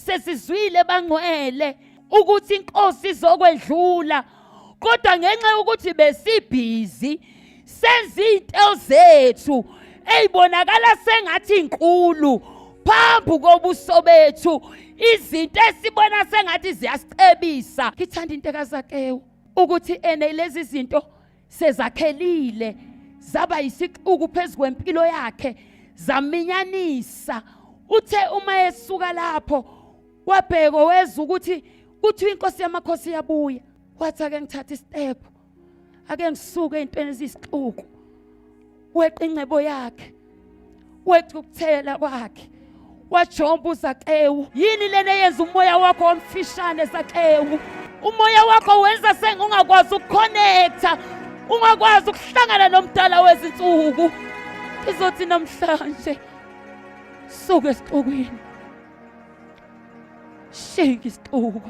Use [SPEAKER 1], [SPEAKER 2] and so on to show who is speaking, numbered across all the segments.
[SPEAKER 1] sesizwile bangcwele ukuthi inkosi izokwedlula kodwa ngenxa yokuthi besibhizi senza izinto zethu eyibonakala sengathi inkulu phambi kobuso bethu izinto esibona sengathi ziyasicebisa ngithanda into kazakewu ukuthi ene lezi zinto sezakhelile zaba yisixuku phezu kwempilo yakhe zaminyanisa uthe uma esuka lapho wabheka weza ukuthi kuthiwa inkosi yamakhosi iyabuya wathi ake ngithathe isitepu ake ngisuke entweni eziyisixuku weqa ingcebo yakhe weqa ukuthela kwakhe wajomba uzakewu yini lena eyenza umoya wakho wamfishane zakewu umoya wakho wenza sengungakwazi ukukhonektha ungakwazi ukuhlangana nomdala wezinsuku izothi namhlanje suke esixukwini Shenge isixuku.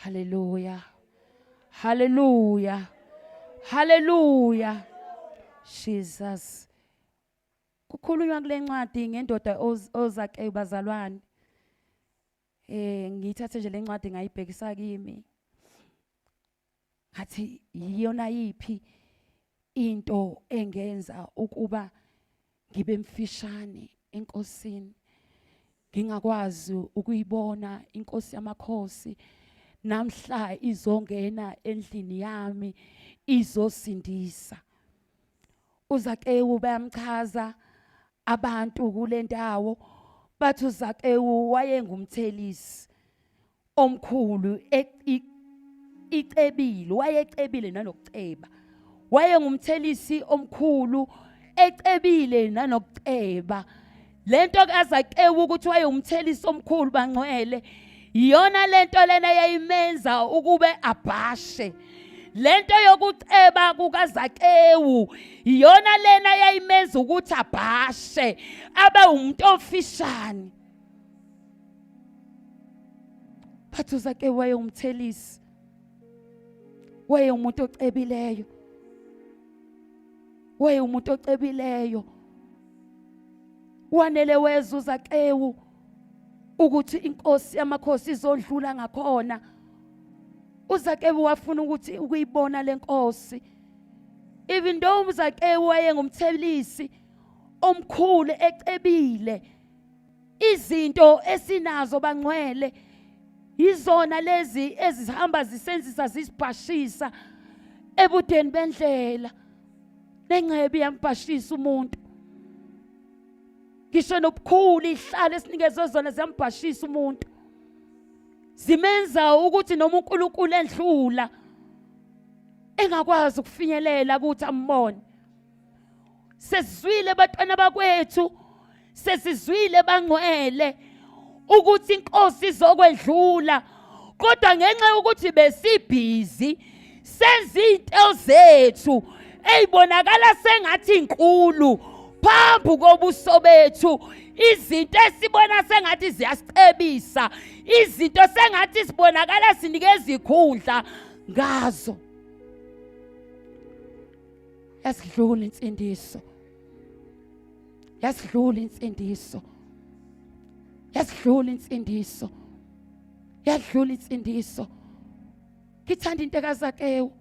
[SPEAKER 1] Haleluya. Haleluya. Haleluya. Jesus. Kukhulunywa kule ncwadi ngendoda ozake bazalwane. Eh ngiyithathe nje lencwadi ngayibhekisa kimi. Ngathi iyona yipi into engenza ukuba ngibe mfishane enkosini. Ngingakwazi ukuyibona inkosi yamakhosi namhla izongena endlini yami izosindisa. uZakewu bayamchaza abantu kule ndawo bathi uZakewu wayengumthelisi omkhulu e- i- icebile wayecebile nanokuceba wayengumthelisi omkhulu ecebile nanokuceba lento kazakewu ukuthi wayewumthelisi omkhulu bangcwele iyona lento lena yayimenza ukube abhashe lento yokuceba kukazakewu iyona lena yayimenza ukuthi abhashe abe umuntu ofishane bathu zakewu wayewumthelisi Weye umuntu ocebileyo. Weye umuntu ocebileyo. Wanele wezuza xewu ukuthi inkosi yamakhosi izondlula ngakhona. uZakewu wafuna ukuthi ukuyibona lenkosi even though uZakewu wayengumthelisi omkhulu ecebile izinto esinazo bangcwele yizona lezi ezihamba zisenzisa zisibhashisa ebudeni bendlela nengcebi yambhashisa umuntu ngisho nobukhulu ihlala esinikezwe zona ziyambhashisa umuntu zimenza ukuthi noma uNkulunkulu endlula engakwazi ukufinyelela ukuthi ambone sesizwile batwana bakwethu sesizwile bangcwele ukuthi inkosi izokwedlula kodwa ngenxa yokuthi besibhizi senza izinto zethu eyibonakala sengathi inkulu phambi kobuso bethu izinto esibona sengathi ziyasicebisa izinto sengathi sibonakala sinikeza ikhundla ngazo yasidlula insindiso yasidlula insindiso yasidlula insindiso yadlula insindiso ngithanda into kazakewu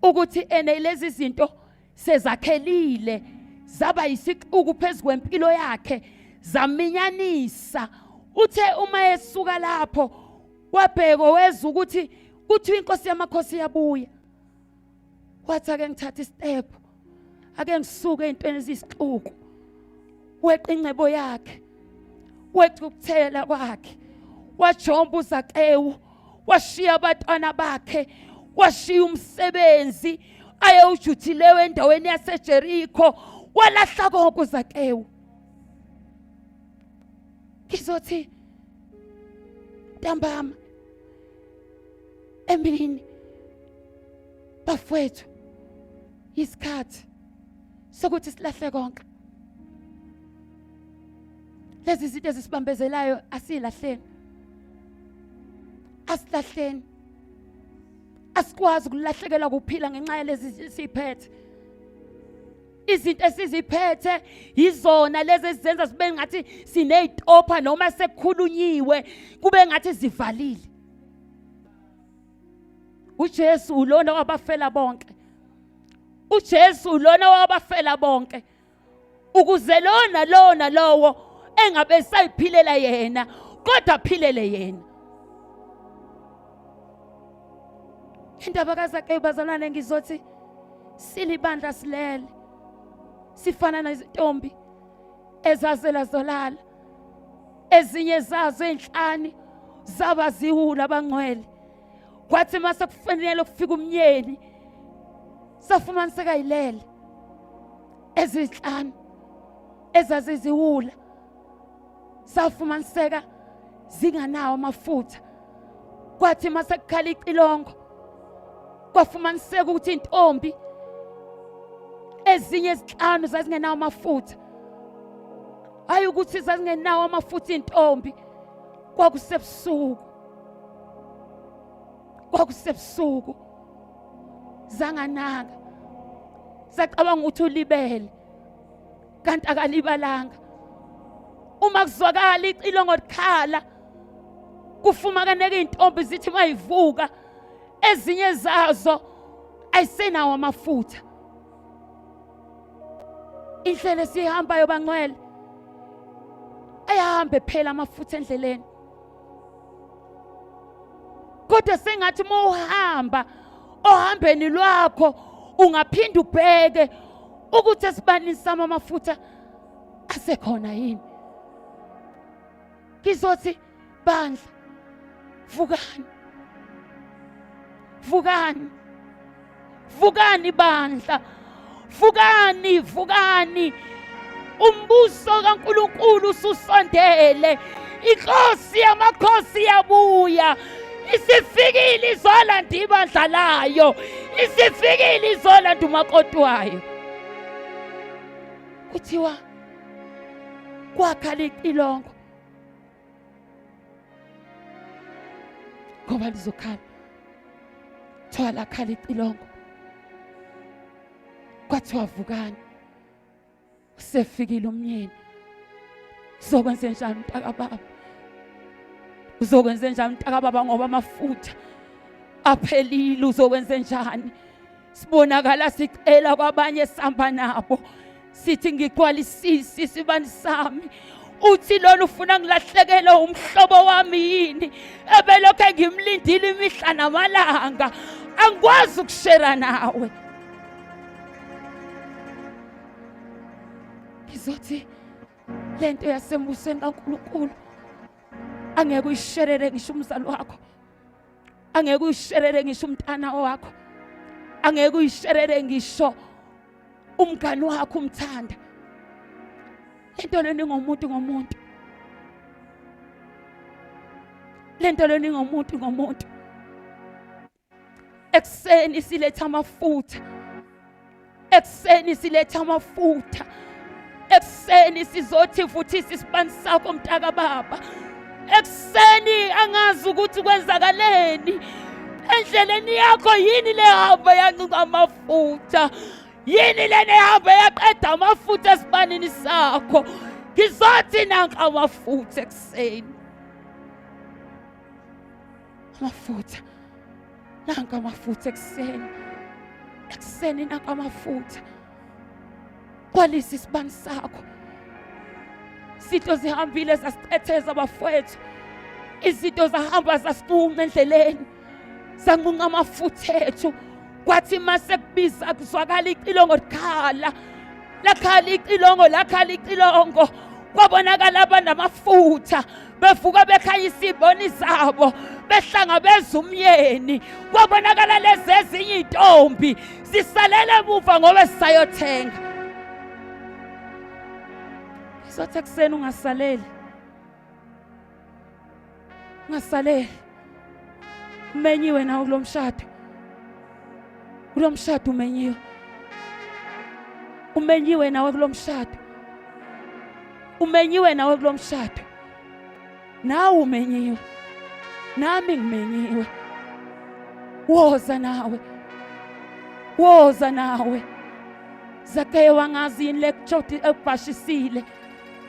[SPEAKER 1] ukuthi ene lezi zinto sezakhelile zaba yisixuku phezu kwempilo yakhe zaminyanisa uthe uma esuka lapho wabheka wezwa ukuthi kuthiwa inkosi yamakhosi yabuya wathi ake ngithathe istep ake ngisuke ezintweni ezisixuku weqa ingcebo yakhe weqa ukuthela kwakhe wajomba uzakewu washiya abatwana bakhe washiya umsebenzi ayewujuthileyo endaweni yaseJerikho walahla konke uzakewu ngizothi ntambama emini bafwethu isikhathi sokuthi silahle konke lezi zinto ezisibambezelayo asilahleni asilahleni asikwazi ukulahlekelwa ukuphila ngenxa yalezi siphethe izinto esiziphethe yizona lezi ezizenza sibe ngathi sineyitopha noma sekukhulunyiwe kube ngathi zivalile uJesu ulona wabafela bonke uJesu ulona wabafela bonke ukuze lona lona lowo engabe sayiphilela yena kodwa aphilele yena indaba kazake bazalwane ngizothi silibandla silele sifana nezintombi ezazela zolala ezinye zazo enhlani zaba ziwula abangcwele kwathi mase kufanele ukufika umnyeni safumaniseka yilele ezinhlanu ezaziziwula safumaniseka zinganawo amafutha kwathi mase kukhala icilongo kwafumaniseka ukuthi intombi ezinye izihlanu zazingenawo amafutha hayi ukuthi zazingenawo amafutha intombi kwakusebusuku kwakusebusuku zanganaka sacabanga ukuthi ulibele kanti akalibalanga uma kuzwakala icilongo likhala kufumakaneka izintombi zithi mayivuka ezinye zazo ayisenawo amafutha indlela esihambayo bangcwele ayahambe phela amafutha endleleni kodwa sengathi uma uhamba ohambeni lwakho ungaphinde ubheke ukuthi esibanini sami amafutha asekhona yini ngizothi bandla vukani vukani vukani bandla vukani vukani umbuso kaNkuluNkulu ususondele inkosi yamakhosi yabuya isifikile izolanda ibandla layo isifikile izolanda umakoti wayo kuthiwa kwakhala icilongo ngoba lizokhala kuthiwa lakhala icilongo kwathiwa vukani usefikile umnyeni uzokwenze njani mntakababa uzokwenze njani mntakababa ngoba amafutha aphelile uzokwenze njani sibonakala sicela kwabanye sihamba nabo sithi ngigwalisisi isibani sami uthi lona ufuna ngilahlekele umhlobo wami yini ebelokhu engimlindile imihla namalanga angikwazi ukushera nawe ngizothi le nto yasembusweni kankulunkulu angeke uyisherere ngisho umzali wakho angeke uyisherele ngisho umntana wakho angeke uyisherele ngisho umngani wakho umthanda lento leni ngomuntu ngomuntu lento leni ngomuntu ngomuntu ekuseni siletha amafutha ekuseni siletha amafutha ekuseni sizothi vuthisa isibani sakho mntaka baba ekuseni angazi ukuthi kwenzakaleni endleleni yakho yini lehamba yancinca amafutha yini lena ehamba yaqeda amafutha esibanini sakho ngizothi nanka amafutha ekuseni Amafutha. Nanka amafutha ekuseni. Ekuseni nanka amafutha. Kwalisa isibani sakho. Sitho zihambile zasithetheza bafowethu. Izinto zahamba zasituma endleleni. Sanqunqa amafutha ethu. Kwathi mase kubiza kuzwakala icilongo likhala. lakhala icilongo lakhala icilongo kwabonakala abanamafutha bevuka bekhaya isiboni zabo behlangabeza umyeni kwabonakala lezi ezinye iy'ntombi sisalele emuva ngoba sisayothenga sizothi ekuseni ungasaleli ngasale umenyiwe nawo kulomshado kulomshado umenyiwe umenyiwe nawe kulomshado umenyiwe nawe kulomshado nawe umenyiwe nami ngimenyiwe woza nawe woza nawe zakhe wangazi yini lekujodi ekubhashisile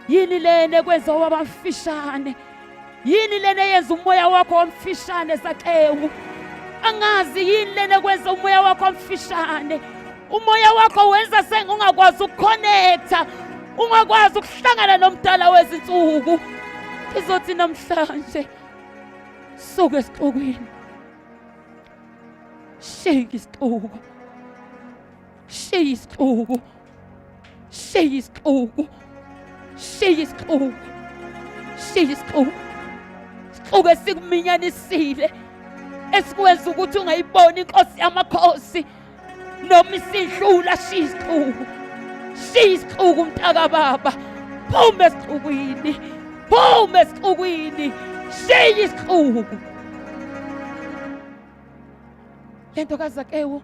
[SPEAKER 1] yini lena ekwenza wabafishane yini lena eyenza umoya wakho wamfishane saxewu angazi yini lena ekwenza umoya wakho wamfishane umoya wakho wenza sengungakwazi ukukhonektha ungakwazi ukuhlangana nomdala wezinsuku izothi namhlanje suka esixukwini shake isixuku Shiya isixuku. Shiya isixuku. Shiya isixuku. Shiya isixuku. Sixuke sikuminyanisile esikwenza ukuthi ungayiboni inkosi yamakhosi noma isidlula shiya isixuku. Shiya isixuku mntaka baba. Phuma esixukwini. Phuma esixukwini. Shiya isixuku. Lento kaZakewu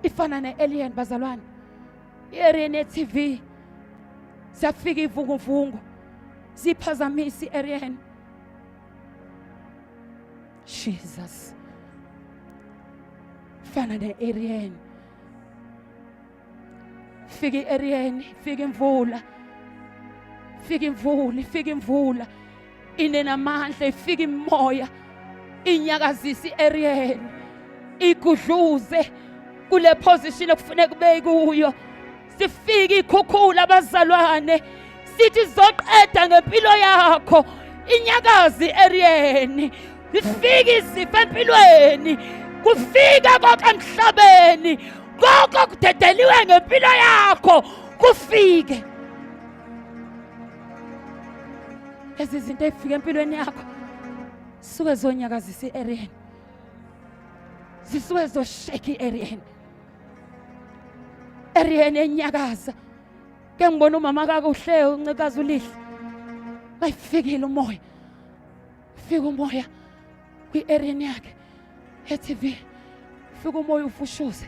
[SPEAKER 1] ifana ne-alien bazalwane i-arena TV siyafika ivunguvungu siphazamisa i-arena Jesus fana ne-arena fika i-arena fika imvula fika imvula fika imvula inenamandla ifika imoya inyakazisa i-ariel igudluze kule position okufuneka ube kuyo sifike ikhukhula abazalwane sithi zoqeda ngempilo yakho inyakazi eriyeni ifike izifo empilweni kufika konke emhlabeni konke okudedeliwe ngempilo yakho kufike ezi zinto ezifika empilweni yakho suke zonyakazisa i-ariyeni zisuke zosheka i-ariyeni ariyeni enyakaza ke ngibona umama kakuhle uncikazi ulihle bayifikile umoya fika umoya kwi-ariyeni yakhe etv fika umoya ufushuze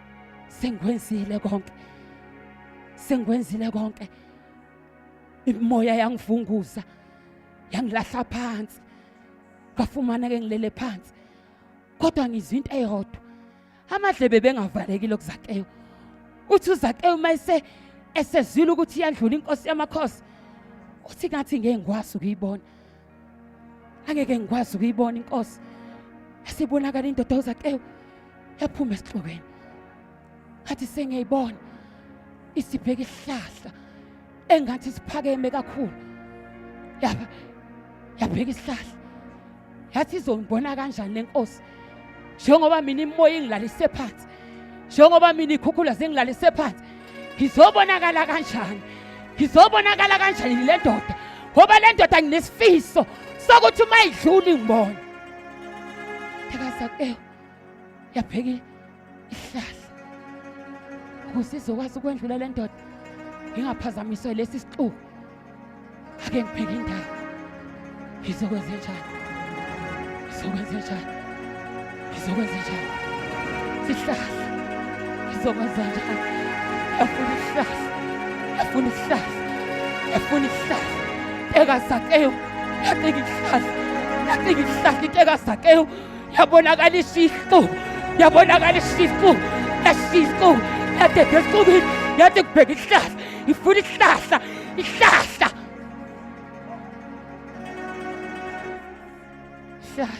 [SPEAKER 1] sengikwenzile konke sengikwenzile konke imoya yangivunguza yangilahla phansi ngafumana ke ngilele phansi kodwa ngizwa into eyodwa amadlebe bengavalekile kuzakeyo uthi uzakeyo uma ese esezwile ukuthi iyadlula inkosi yamakhosi uthi ngathi ngeke ngikwazi ukuyibona angeke ngikwazi ukuyibona inkosi esibonakala indoda ozakewe yaphuma esihlokweni ngathi sengiyayibona isibheka isihlahla engathi siphakeme kakhulu yaba yabheka isihlahla yathi izongibona kanjani lenkosi njengoba mina imoya ingilalise phansi njengoba mina ikhukhula zingilalise phansi ngizobonakala kanjani ngizobonakala kanjani le ndoda ngoba le ndoda nginesifiso sokuthi uma idlula ingibona thekaza ewu yaphekile ihlahla ukuze izokwazi ukwendlula le ndoda ingaphazamiswe lesi sixuku ake ngibheke indawo izokwenze njani izokwenze njani izokwenze njani sihlahla izokwenza njani efuna ihlahla efuna ihlahla efuna ihlahla ekazakeyo yateka ihlahla yateka ihlahla iteka zakeyo yabonakala isifu yabonakala isifu esifu yadede esicubini yade kubheka ihlahla ifuna ihlahla ihlahla ihlahla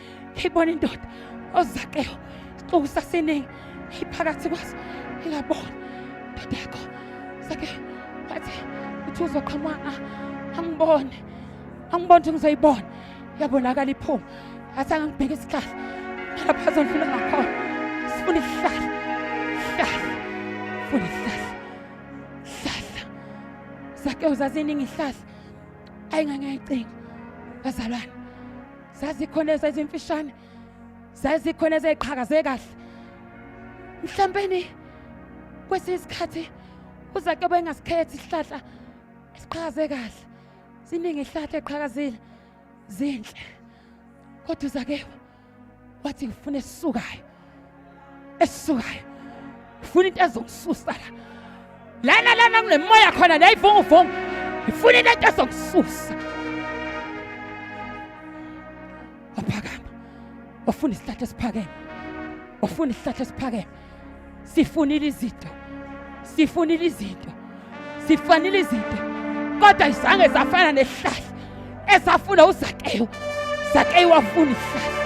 [SPEAKER 1] ibona indoda ozakeo isixuku saseningi iphakathi kwaso ilabona indoda yakho sake wathi uthi uzoqhamuka ah, angibone angibone ukuthi ngizoyibona yabonakala iphuma yathi angangibheka isihlahla lapha azondlula ngakhona sifuna isihlahla hlahla funa isihlahla hlahla sake uzaziningi ihlahla ayingangayicinga bazalwane zazikhona ezimfishane zazikhona eziqhakaze kahle mhlawumbe kwesinye isikhathi uzake bengasikhethi isihlahla esiqhakaze kahle siningi isihlahla eqhakazile zinhle kodwa uzake wathi ngifuna esisukayo esisukayo ngifuna into ezongisusa la lana lana kunemoya khona la ivunguvungu ngifuna into ento ezongisusa waphakama wafuna isihlahla esiphakeme wafuna isihlahla esiphakeme sifunile izinto sifunile izinto zifanele izinto kodwa izange zafana nehlahla esafuna uzakeyo zakeyo wafuna ihlahla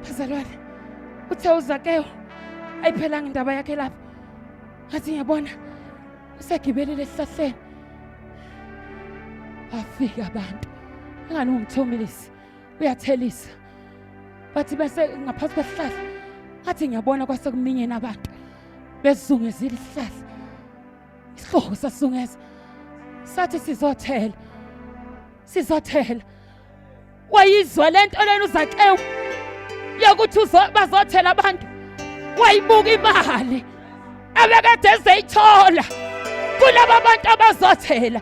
[SPEAKER 1] bazalwane uthe uzakeyo ayiphelanga indaba yakhe lapho ngathi ngiyabona usegibelele esihlahleni bafika abantu engani ungithomilisi uyathelisa bathi bese ngaphansi kwesihlahla ngathi ngiyabona kwasekuminyeni abantu besizungezile isihlahla isihloko sasizungeza sathi sizothela sizothela wayizwa le nto lena uzakewu yokuthi bazothela abantu wayibuka imali abekade ezeyithola kulaba bantu abazothela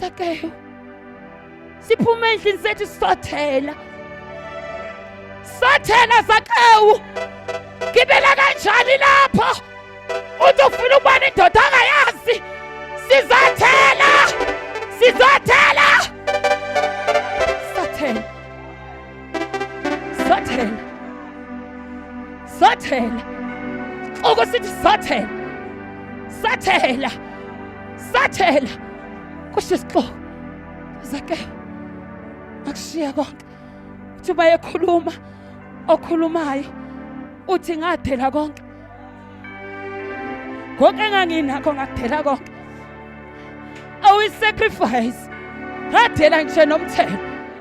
[SPEAKER 1] Sakeyo. Siphuma endlini sethu sisothela. Sathela Sakeyo. Gibela kanjani lapho? Uthi ufuna ukuba nendoda angayazi. Sizothela. Sizothela. Sathela. Sathela. Sathela. Okusithi sathela. Sathela. Sathela kusho isixoki zake akushiya konke uthi bayekhuluma okhulumayo uthi ngathela konke konke enganginakho ngakuthela konke awu i-sacrifice ngathela ngisho nomthelo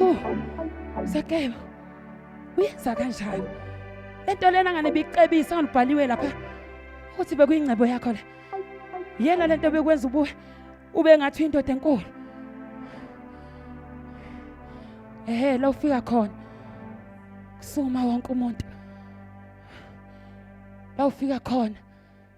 [SPEAKER 1] Oh, Zakeba. Uyenza kanjani? Lento lena ngane bicebisa ngalibhaliwe lapha. Uthi bekuyingcebo yakho la. Yena lento bekwenza ubuwe ube ngathi indoda enkulu. Ehhe, la ufika khona. Kusuma wonke umuntu. La ufika khona.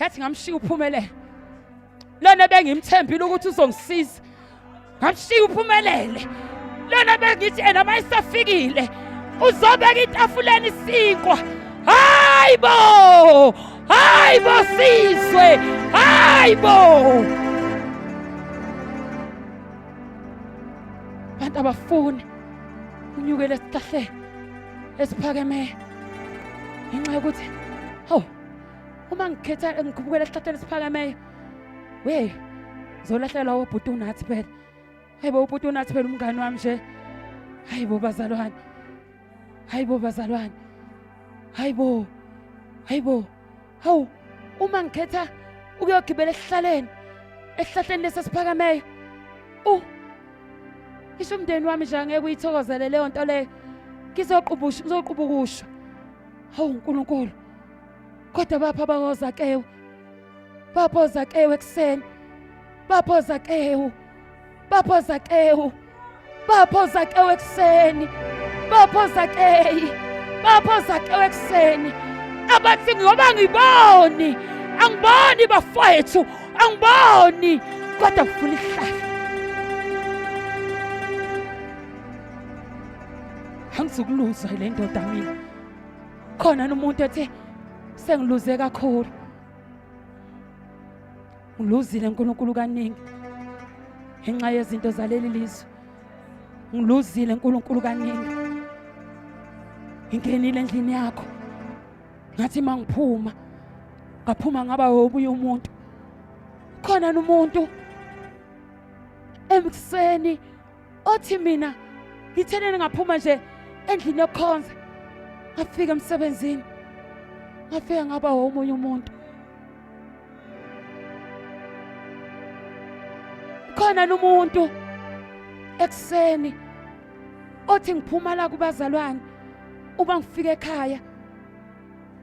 [SPEAKER 1] yathi ngamshiya uphumelele lona bengimthembile ukuthi uzongisiza ngamshiya uphumelele lona bengithi ena uma isafikile uzobeka itafuleni isinkwa hayi bo hayi bo sizwe hayi bo abantu abafuni unyukele esihlahleni esiphakeme ngenxa yokuthi hawu uma ngikhetha ngikhubukela esihlahleni esiphakameyo we zolahlelwa wobhuti unathi phela hayi bo ubhuti unathi phela umngani wami nje hayi bo bazalwane hayi bo bazalwane hayi bo hayi bo hawu uma ngikhetha ukuyogibela esihlaleni esihlahleni lesi esiphakameyo u isho umndeni wami nje angeke uyithokozele leyo nto leyo ngizoqubusha ngizoqubukusha hawu uNkulunkulu kodwa bapha bakozakewu bapha ozakewu ekuseni bapha ozakewu bapha ozakewu bapha ozakewu ekuseni bapha ozakeyi bapha ozakewu ekuseni abathi ngoba ngiboni angiboni bafowethu angiboni kodwa kufuna ihlahla angizukuluza le ndoda mina khona umuntu ethe sengiluze kakhulu ngiluzile uNkulunkulu kaningi ngenxa yezinto zaleli lizwe ngiluzile uNkulunkulu kaningi ngingenile endlini yakho ngathi mangiphuma ngaphuma ngaba obuye umuntu khona umuntu emkuseni othi mina ngithene ngaphuma nje endlini yokukhonza ngafika emsebenzini ngafika ngaba omunye umuntu khona nomuntu ekuseni othi ngiphuma la kubazalwane uma ngifika ekhaya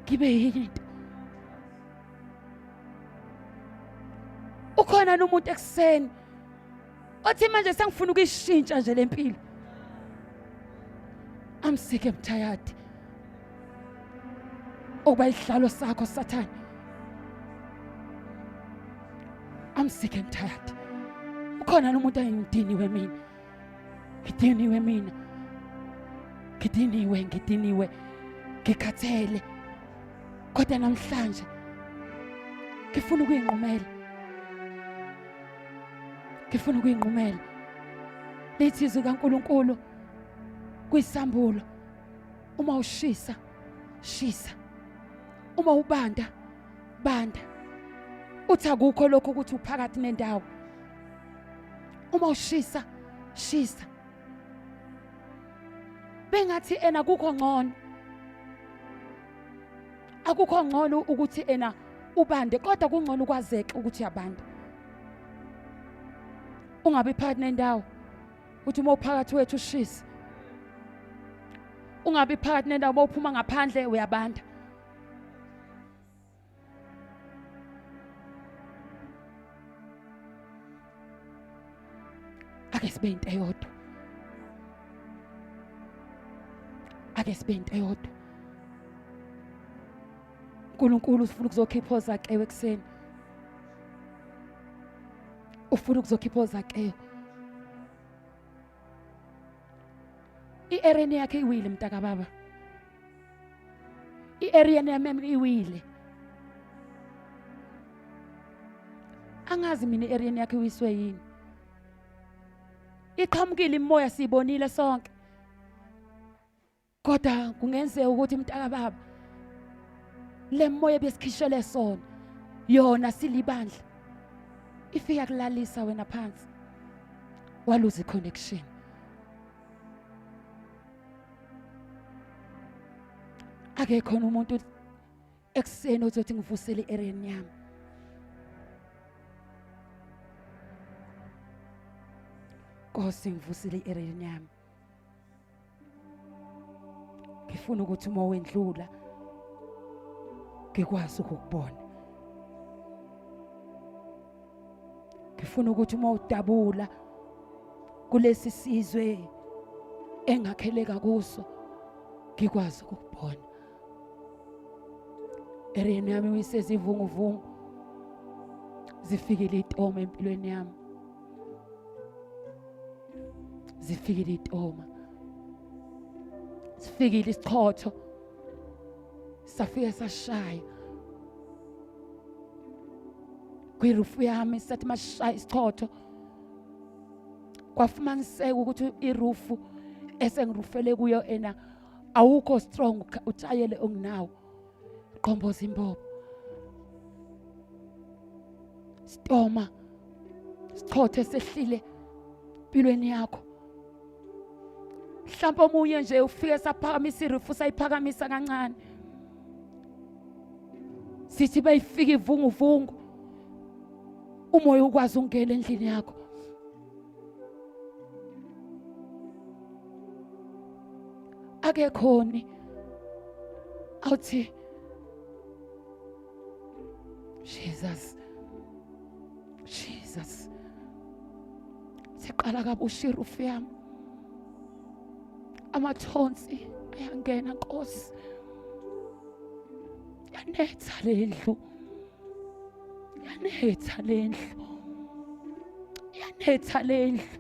[SPEAKER 1] ngibe yini into ukhona nomuntu ekuseni othi manje sengifuna ukuyishintsha nje le mpilo I'm sick I'm tired okuba isihlalo sakho sathane I'm sick and tired ukhona nomuntu ayengidiniwe mina ngidiniwe mina ngidiniwe ngidiniwe ngikhathele kodwa namhlanje ngifuna ukuyinqumela ngifuna ukuyinqumela lithi izwi kaNkuluNkulu kwisambulo uma ushisa shisa uma ubanda banda uthi akukho lokho ukuthi uphakathi nendawo uma ushisa shisa bengathi ena kukho ngcono akukho ngcono ukuthi ena ubande kodwa kungcono ukwazeke ukuthi uyabanda ungabi phakathi nendawo uthi uma uphakathi wethu ushisa ungabi phakathi nendawo uma uphuma ngaphandle uyabanda ake sibe into eyodwa ake sibe into eyodwa uNkulunkulu ufuna ukuzokhipha ozakewe ekseni ufuna ukuzokhipha ozakewe i-ereni yakhe iwile mntakababa i-aryan mm iwile angazi mina i-aryan yakhe iwiswe yini iqhamukile imoya siyibonile sonke kodwa kungenzeka ukuthi mntaka baba le moya besikhishele sona yona silibandla ifika kulalisa wena phansi waluza i-connection ake khona umuntu ekuseni ozothi ngivusele i-ereni yami Nkosi ngivusile i-ereni yami ngifuna ukuthi uma wendlula ngikwazi ukukubona ngifuna ukuthi uma udabula kulesi sizwe engakheleka kuso ngikwazi ukubona ereni yami uyisezivunguvungu zifikile itoma empilweni yami zifikile itoma sifikile isichotho safika sashaya kwirufu yami sathi mashaya isichotho kwafumaniseka ukuthi irufu esengirufele kuyo ena awukho strong utshayele onginawo qomboza imbobo stoma sichothe sehlile empilweni yakho mhlawumbe omunye nje ufike saphakamisa irifu sayiphakamisa kancane sithi beyifika ivunguvungu umoya ukwazi ungena endlini yakho akekhoni awuthi Jesus. Jesus. Siqala kabusha irufu yami. Amathonsi ayangena Nkosi. Yanetha lendlu. Yanetha lendlu. Yanetha lendlu.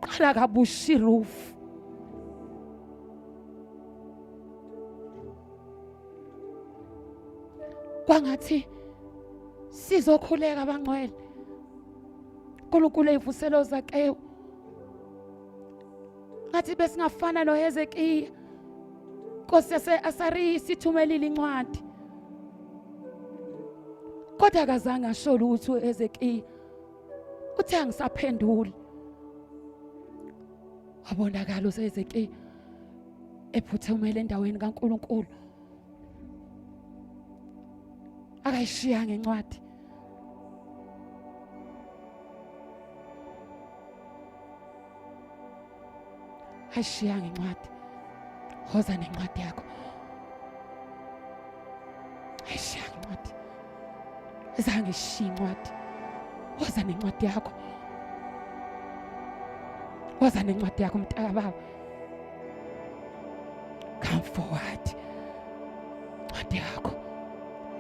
[SPEAKER 1] Qala kabusha irufu. kwangathi sizokhuleka abangcwele uNkulunkulu eyivuselo zakewu ngathi besingafana noHezekiya Nkosi yaseAsariya sithumelile incwadi kodwa akazange asho lutho uHezekiya uthe angisaphenduli wabonakala uHezekiya ephuthumele endaweni kaNkuluNkulu akayishiya ngencwadi ayishiya ngencwadi hoza nencwadi yakho zange ishiye incwadi waza nencwadi yakho waza nencwadi yakho mntaka baba come forward incwadi yakho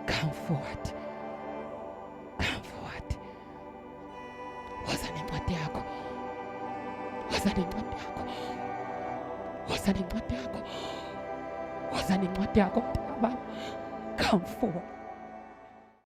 [SPEAKER 1] come forward Woza nencwadi yakho. Woza nencwadi yakho. Woza nencwadi yakho. Woza nencwadi yakho mntana baba. Come forward.